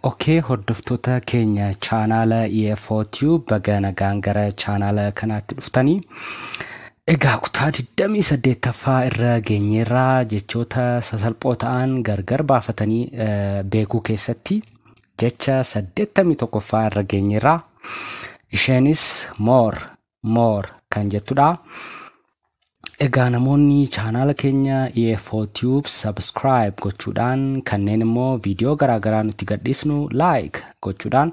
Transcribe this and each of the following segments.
Okee hordoftoota keenya chaanaala EFO Tube baga nagaan gara chaanaala kanaatti dhuftanii. Egaa kutaa 28ffaa irra geenyeerraa jechoota sasalphoo ta'an gargar baafatanii eh, beekuu keessatti jecha 81ffaa irra geenyeerraa. Isheenis more more kan jettudha. Egaa namoonni chaanaala keenya EFO Tube subscribe gochuudhaan kanneen immoo viidiyoo garaagaraa nutti gadhiisnu like gochuudhaan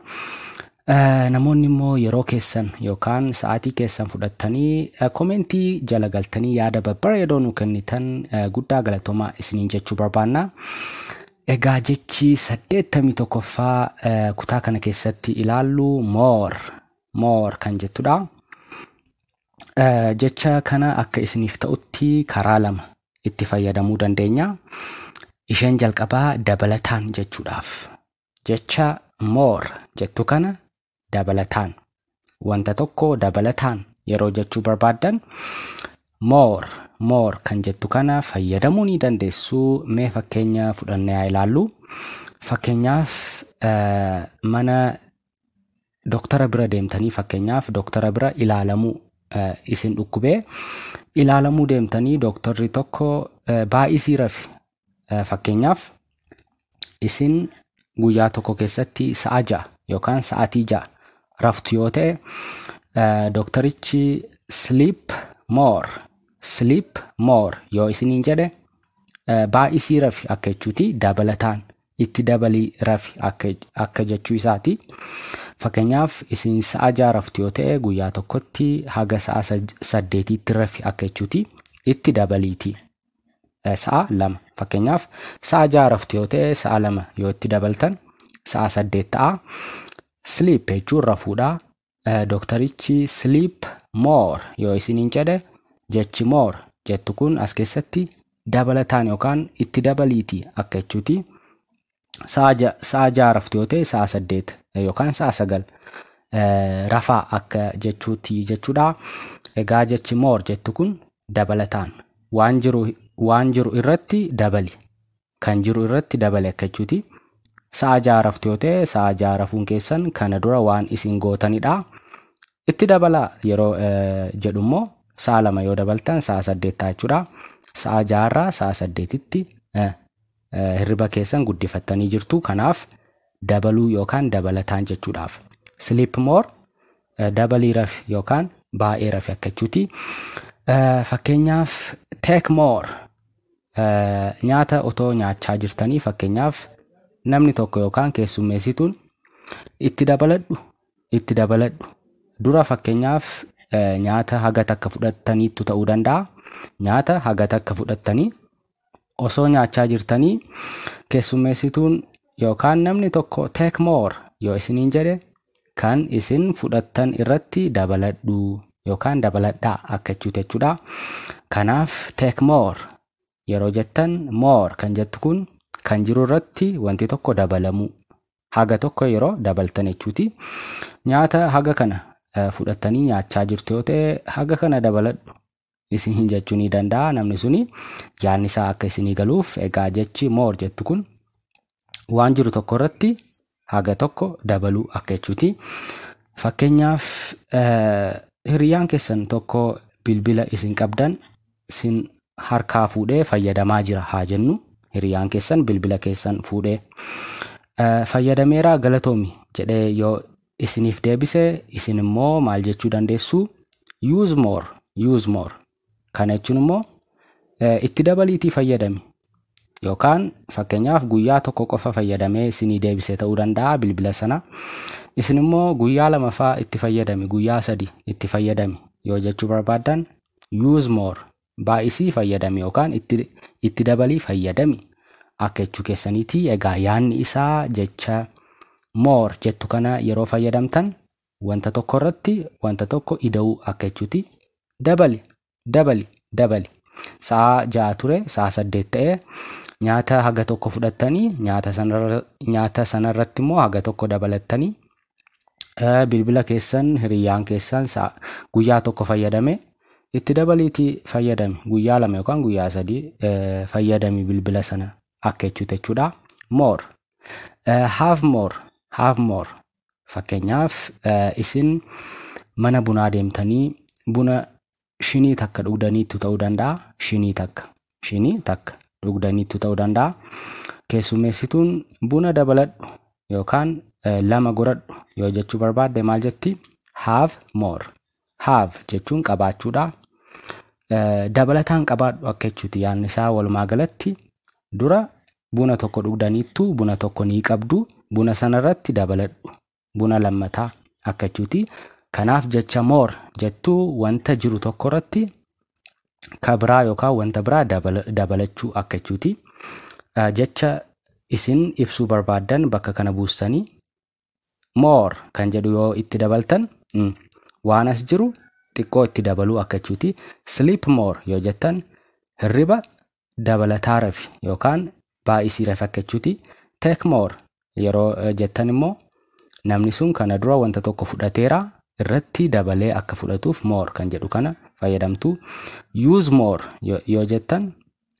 eh, namoonni immoo yeroo keessan yookaan sa'aatii keessan fudhattanii eh, komentii jala galtanii yaada babbareedoo nu kennitan eh, guddaa galatoomaa isiniin jechuu barbaanna. Egaa jechi saddeettamii tokkoffaa eh, kutaa kana keessatti ilaallu more more kan jettudha. Jecha kana akka isiniif ta'utti karaa lama itti fayyadamuu dandeenya. Isheen jalqabaa dabalataan jechuudhaaf. Jecha more jettu kana dabalataan. Wanta tokko dabalataan yeroo jechuu barbaaddan more more kan jettu kana fayyadamuu ni dandeessu. Mee fakkeenya fudhannee haa ilaallu. Fakkeenyaaf mana doktara bira deemtanii fakkeenyaaf doktara bira ilaalamuu eh, isin dhukkubee ilaalamuu deemtanii doktorri tokko eh, baay'isii rafi Eh, fakkeenyaaf isin guyyaa tokko keessatti sa'a ja'a yookaan sa'atii ja'a raftu yoo ta'e eh, doktarichi sleep more sleep more yoo isiniin jedhe eh, baay'isii rafi akka jechuuti dabalataan itti dabalii rafi akka akka jechuu isaati. Fakkeenyaaf isin sa'a ja'a raftu yoo ta'e guyyaa tokkotti haga sa'a sad- saddeetiitti rafi akka jechuuti. Itti dabaliiti eh, sa'a lama. Fakkeenyaaf sa'a ja'a raftu yoo ta'e sa'a lama yoo itti dabaltan sa'a saddeet ta'a. Sleep jechuun rafuudha. Dooktarichi sleep more yoo isiniin jedhe jechi more jettu kun as keessatti dabalataan yookaan itti dabaliiti akka jechuuti. Sa'a ja'a raftu yoo ta'e sa'a saddeet yookaan sa'a sagal rafaa akka jechuuti jechuudha. Egaa jechi more jettu kun dabalataan waan jiru waan jiru irratti dabali kan jiru irratti dabali akka jechuuti. Sa'a ja'a raftu yoo ta'e sa'a ja'a rafuun keessan kana dura waan isin gootanidha. Itti dabalaa yeroo eh, jedhu immoo sa'a lama yoo dabaltan sa'a saddeet ta'a jechuudha. Sa'a ja'arraa sa'a saddeetitti eh, eh, hirriba keessan guddifattanii jirtu. Kanaaf dabaluu yookaan dabalataan jechuudhaaf. Sleep more eh, dabalii rafi yookaan baay'ee rafi akka jechuuti. Eh, Fakkeenyaaf take more Nyaata otoo nyaachaa jirtanii fakkeenyaaf namni tokko yookaan keessummeessituun itti dabaladhu itti dabaladhu dura fakkeenyaaf nyaata haga takka fudhattaniittu ta'uu danda'a. Nyaata haga takka fudhattanii osoo nyaachaa jirtanii keessummeessituun Yookaan namni tokko take more yoo isiniin jedhe kan isin fudhattan irratti dabaladhu yookaan dabaladhaa akka jechuuti jechuudha. Kanaaf take more yeroo jettan more kan jettu kun kan jiru irratti wanti tokko dabalamuu haga tokko yeroo dabaltan jechuuti. Nyaata haga kana eh, fudhattanii nyaachaa jirtu yoo ta'e haga kana dabaladhu isin hin jechuu ni danda'a namni suni yaadni isaa akka isinii galuuf egaa jechi moor jettu kun waan jiru tokko irratti haga tokko dabaluu akka jechuuti. Fakkeenyaaf hiriyaan keessan tokko bilbila isin qabdan sin harkaa fuudhee fayyadamaa jira haa jennu hiriyaan keessan bilbila keessan fuudhee fayyadameeraa galatoomi jedhee yoo isiniif deebise isin immoo maal jechuu dandeessu use more use more kana jechuun immoo eh, itti dabaliitii fayyadami yookaan fakkeenyaaf guyyaa tokko qofa fayyadamee isinii deebise ta'uu danda'a bilbila sana isin immoo guyyaa lamafaa itti fayyadami guyyaa sadi itti fayyadami yoo jechuu barbaaddan use more Baay'isii fayyadami yookaan itti, itti dabalii fayyadami. Akka jechuu keessaniiti. Egaa yaadni isaa jecha more jettu kana yeroo fayyadamtan wanta tokko irratti wanta tokko ida'uu akka jechuuti. Dabali, dabali, dabali. Sa'a ja'a ture, sa'a saddeet ta'e. Nyaata haga tokko fudhattanii nyaata sanarra, nyaata sanarratti immoo haga tokko dabalattanii bilbila keessan hiriyyaan keessan guyyaa tokko fayyadame itti dabaliitii fayyadami guyyaa lama yookaan guyyaa sadii fayyadami bilbila sana akka jechuuti jechuudha more have more have more fakkeenyaaf isin mana bunaa deemtanii buna shinii takka dhugdaniittu ta'uu danda'a. Shinii takka. Shinii takka dhugdaniittu ta'uu danda'a. Keessummeessituun buna dabaladhu yookaan eh, lama goradhu yoo jechuu barbaadde maal jetti? Have more. Have jechuun qabaachuudha. Eh, Dabalataan qabaadhu akka jechuuti yaadni isaa walumaa galatti dura buna tokko dhugdaniittu buna tokko ni qabdu buna sanarratti dabaladhu buna lammataa akka jechuuti. Kanaaf jecha more jettu wanta jiru tokko irratti ka biraa yookaan wanta biraa dabala- dabalachuu akka jechuuti. Eh, Jecha isin ibsuu barbaaddan bakka kana buustanii more kan jedhu yoo itti dabaltan mm, waan as jiru xiqqoo itti dabaluu akka jechuuti. Sleep more yoo jettan hirriba dabalataa refi yookaan baay'isii refi akka jechuuti take more yeroo eh, jettan immoo namni sun kana dura wanta tokko fudhateera irratti dabalee akka fudhatuuf more kan jedhu kana fayyadamtu use more yo- yoo jettan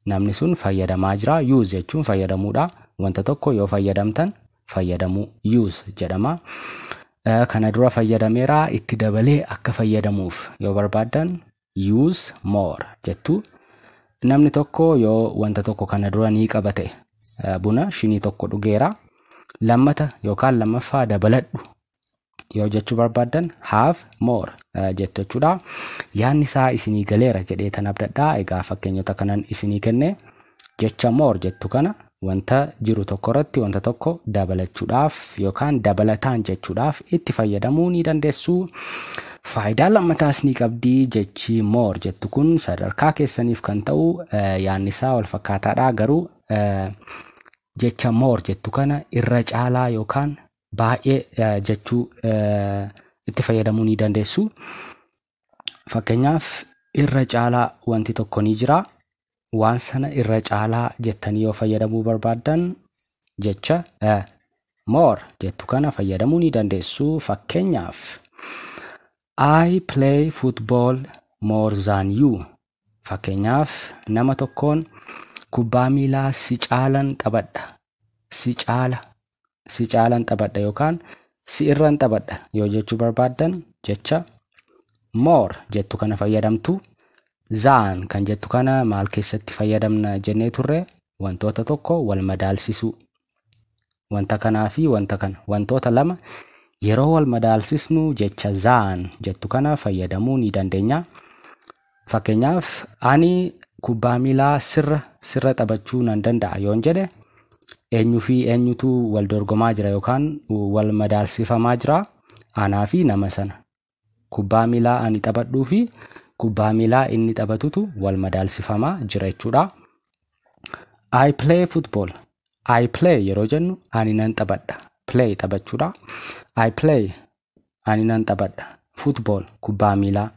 namni sun fayyadamaa jira use jechuun fayyadamuudha wanta tokko yoo fayyadamtan fayyadamuu use jedhama Eh, kana dura fayyadameera itti dabalee akka fayyadamuuf yoo barbaaddan use more jettu namni tokko yoo wanta tokko kana dura ni qaba ta'e eh, buna shinii tokko dhugeera lammata yookaan lammaffaa dabaladhu yoo jechuu barbaaddan have more eh, jettu jechuudha yaanni isaa isinii galeera jedhee tan abdadhaa egaa fakkeenyota kanan isinii kenne jecha more jettu kana wanta jiru tokko irratti wanta tokko dabalachuudhaaf yookaan dabalataan jechuudhaaf itti fayyadamuu ni dandeessu. Faayidaa lammataas ni qabdi jechi more jettu kun sadarkaa keessaniif kan ta'u yaadni isaa wal fakkaataadha garuu jecha more jettu kana irra caalaa yookaan baay'ee jechuu itti fayyadamuu ni dandeessu. Fakkeenyaaf irra caalaa wanti tokko ni jira. Waan sana irra caalaa jettanii yoo fayyadamuu barbaaddan jecha a more jettu kana fayyadamuu ni dandeessu. Fakkeenyaaf I play football more than you. Fakkeenyaaf nama tokkoon kubbaa miilaa si caalan taphadha. Si caala si caalan taphadha yookaan si irran taphadha yoo jechuu barbaaddan jecha more jettu kana fayyadamtu. Zaan kan jettu kana maal keessatti fayyadamna jennee turre wantoota tokko wal madaalsisuu. Wanta kanaa fi wanta kana wantoota lama yeroo wal madaalsisnu jecha zaan jettu kana fayyadamuu ni dandeenya. Fakkeenyaaf ani kubbaa miilaa sirra sirra taphachuu nan danda'a yoon jedhe eenyu fi eenyutu wal dorgomaa jira yookaan wal madaalsifamaa jira anaa fi nama sana. Kubbaa miilaa ani taphadhuu fi kubbaa miilaa inni taphatutu wal madaalsifamaa jira jechuudha. I play football. I play yeroo jennu ani nan taphadha. Play taphachuudha. I play ani nan taphadha football kubbaa miilaa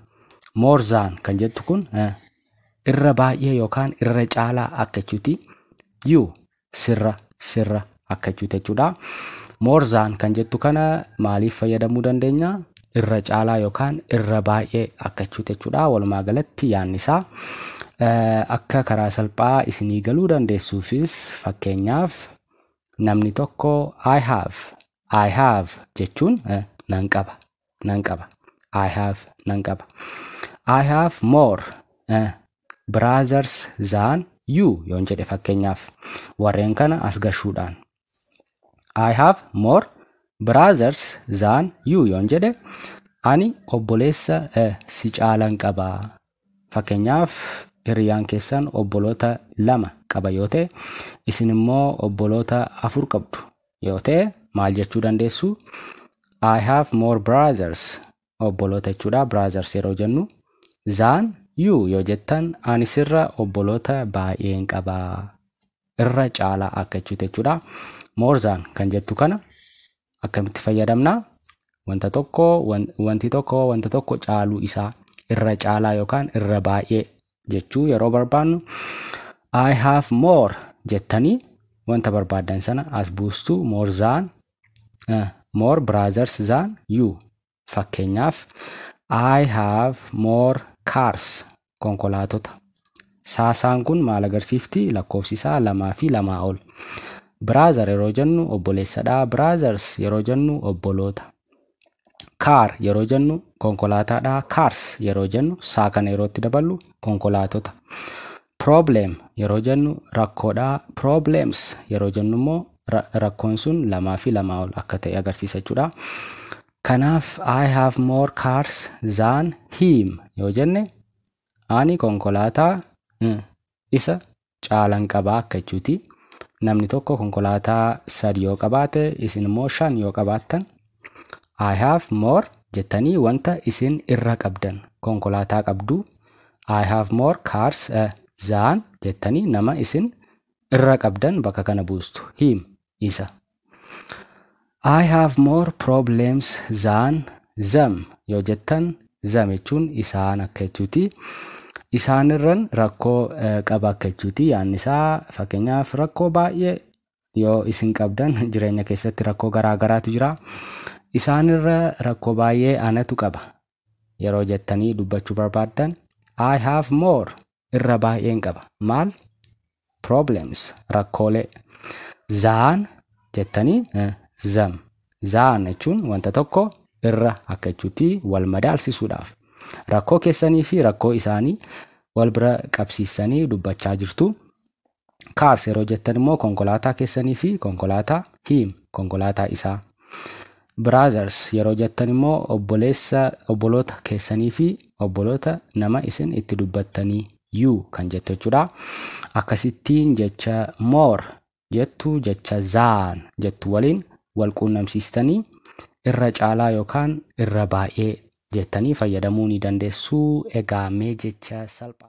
more than kan jettu kun eh, irra baay'ee yookaan irra caalaa akka jechuuti you sirra sirra akka jechuuti jechuudha more than kan jettu kana maaliif fayyadamuu dandeenya irra caalaa yookaan irra baay'ee akka jechuuti jechuudha walumaa galatti yaanni isaa eh, akka karaa salphaa isinii galuu dandeessuufis fakkeenyaaf Namni tokko I have, I have jechuun eh, nan qaba, nan qaba. I have nan qaba. I have more eh, brothers than you yoon jedhe fakkeenyaaf warreen kana as gashuudhaan. I have more brothers than you yoon jedhe ani obboleessa eh, si caalan qaba Fakkeenyaaf, hiriyaan keessan obboloota lama qaba yoo ta'e, isin immoo obboloota afur qabdu yoo ta'e maal jechuu dandeessu? I have more brothers, obboloota jechuudha, brothers yeroo jennu. Than you yoo jettan, ani sirra obboloota baay'een qaba. irra caalaa akka jechuuti jechuudha. More than kan jettu kana akkamitti fayyadamna? Wanta tokko wan- wanti tokko wanta tokko caaluu isaa irra caalaa yookaan irra baay'ee jechuu yeroo barbaannu I have more jettanii wanta barbaaddan sana as buustu more than eh, more brothers than you Fakkeenyaaf, I have more cars. Konkolaatota. Saasaan kun maal agarsiifti? Lakkoofsi isaa lamaa fi lamaa ol. Brother yeroo jennu obboleessadha. Brothers yeroo jennu obboloota. Car yeroo jennu konkolaataadha. Cars yeroo jennu saa kana yeroo itti daballu konkolaatota. Problem yeroo jennu rakkoodha. Problems yeroo jennu immoo ra- rakkoon sun lamaa fi lamaa ol akka ta'e agarsiisa jechuudha. Kanaaf I have more cars than him yoo jenne ani konkolaataa eh, isa caalan qabaa akka jechuuti. Namni tokko konkolaataa sadi yoo qabaate isin immoo shan yoo qabaattan I have more jettanii wanta isin irra qabdan konkolaataa qabdu I have more cars uh, than jettanii nama isin irra qabdan bakka kana buustu him isa I have more problems than them yoo jettan them jechuun isaan akka jechuuti. Isaanirran rakkoo eh, qaba akka jechuuti. Yaanni isaa fakkeenyaaf rakkoo baay'ee yoo isin qabdan jireenya keessatti rakkoo garaa garaatu jira. Isaanirra rakkoo baay'ee anatu qaba yeroo jettanii dubbachuu barbaaddan I have more irra baay'een qaba. Maal? Problems rakkoolee zaan jettanii eh, zam zaan jechuun wanta tokko irra akka jechuutti wal madaalsisuudhaaf rakkoo keessanii fi rakkoo isaanii wal bira qabsiistanii dubbachaa jirtu. Kaars yeroo jettan immoo konkolaataa keessanii fi konkolaataa hiim konkolaataa isaa. Biraazars yeroo jettan immoo obboleessa obboloota keessanii fi obboloota nama isin itti dubbattanii yuu kan jettu jechuudha. Akkasittiin jecha moor jettu jecha zaan jettu waliin wal quunnamsiistanii irra caalaa yookaan irra baay'ee jettanii fayyadamuu ni dandeessu. Egaa mee jecha salphaa.